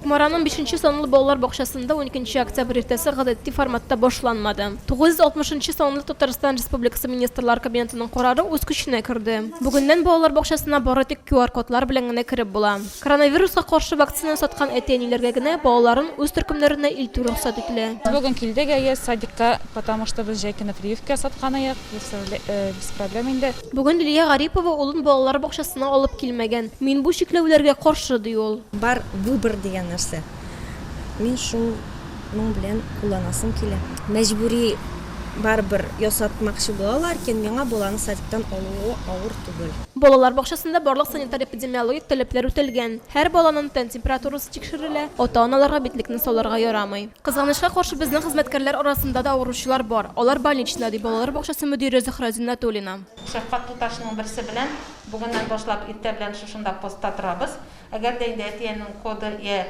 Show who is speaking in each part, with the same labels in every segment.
Speaker 1: Кукмараның бишенче санлы балалар бакчасында уникенче октябрь иртәсе гадәти форматта башланмады. 960 нчы санлы Татарстан Республикасы Министрлар Кабинетының карары үз көченә керде. Бүгеннән балалар бакчасына бары тик QR-кодлар белән генә кереп була. Коронавируска каршы вакцина саткан әти-әниләргә генә балаларын үз төркемнәренә илтү рөхсәт ителә. Без бүген килдек әйе
Speaker 2: садикка, потому что без җәй көне прививка сатканыек, без проблем инде. Бүген Лилия Гарипова
Speaker 1: улын балалар бакчасына алып килмәгән. Мин бу чикләүләргә каршы, ди ул. Бар выбор
Speaker 3: дигән нәрсә. Мин шуның белән кулланасым килә. Мәҗбүри барыбер ясатмакчы була ла, ләкин миңа баланы садиктан алуы авыр түгел. Балалар бакчасында
Speaker 1: барлык санитар-эпидемиологик таләпләр үтәлгән. Һәр баланын тән температурасы тикшерелә, ата-аналарга битлекне салырга ярамый. Кызганычка каршы, безнең хезмәткәрләр арасында да авыручылар бар. Алар больничныйда, ди балалар бакчасы мөдире Зөһрә Зиннәтуллина. Шәфкать туташының
Speaker 4: берсе белән бүгеннән башлап иртә белән шушында постта торабыз. Әгәр дә инде әти-әнинең коды йә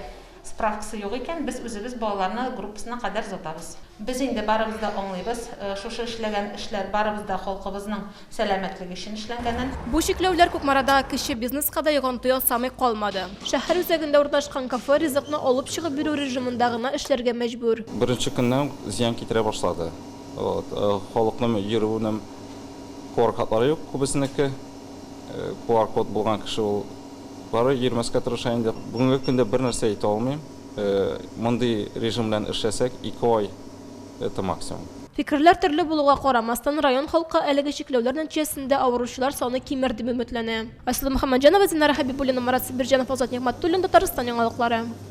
Speaker 4: справкасы юк икән, без үзебез балаларны группасына кадәр озатабыз. Без инде барыбыз да аңлыйбыз, шушы эшләгән эшләр барыбыз да халкыбызның сәламәтлек өчен эшләнгәнен. Бу чикләүләр
Speaker 1: Кукмарада кече бизнеска да йогынты ясамый калмады. Шәһәр үзәгендә урнашкан кафе ризыкны алып чыгып бирү режимында гына эшләргә мәҗбүр. Беренче көннән үк
Speaker 5: зыян китерә башлады. Халыкның йөрүенең QR-кодлары юк күбесенеке. QR-код булган кеше ул барыбер йөрмәскә тырыша инде. Бүгенге көндә бернәрсә әйтә алмыйм. Мондый режим белән эшләсәк, ике ай. Это максимум. Фикерләр төрле
Speaker 1: булуга карамастан, район халкы әлеге чикләүләр нәтиҗәсендә авыручылар саны кимер дип өметләнә. Айсылу Мөхәммәтҗанова, Динара Хәбибуллина, Марат Сибирҗанов, Азат Нигъмәтуллин, Татарстан яңалыклары.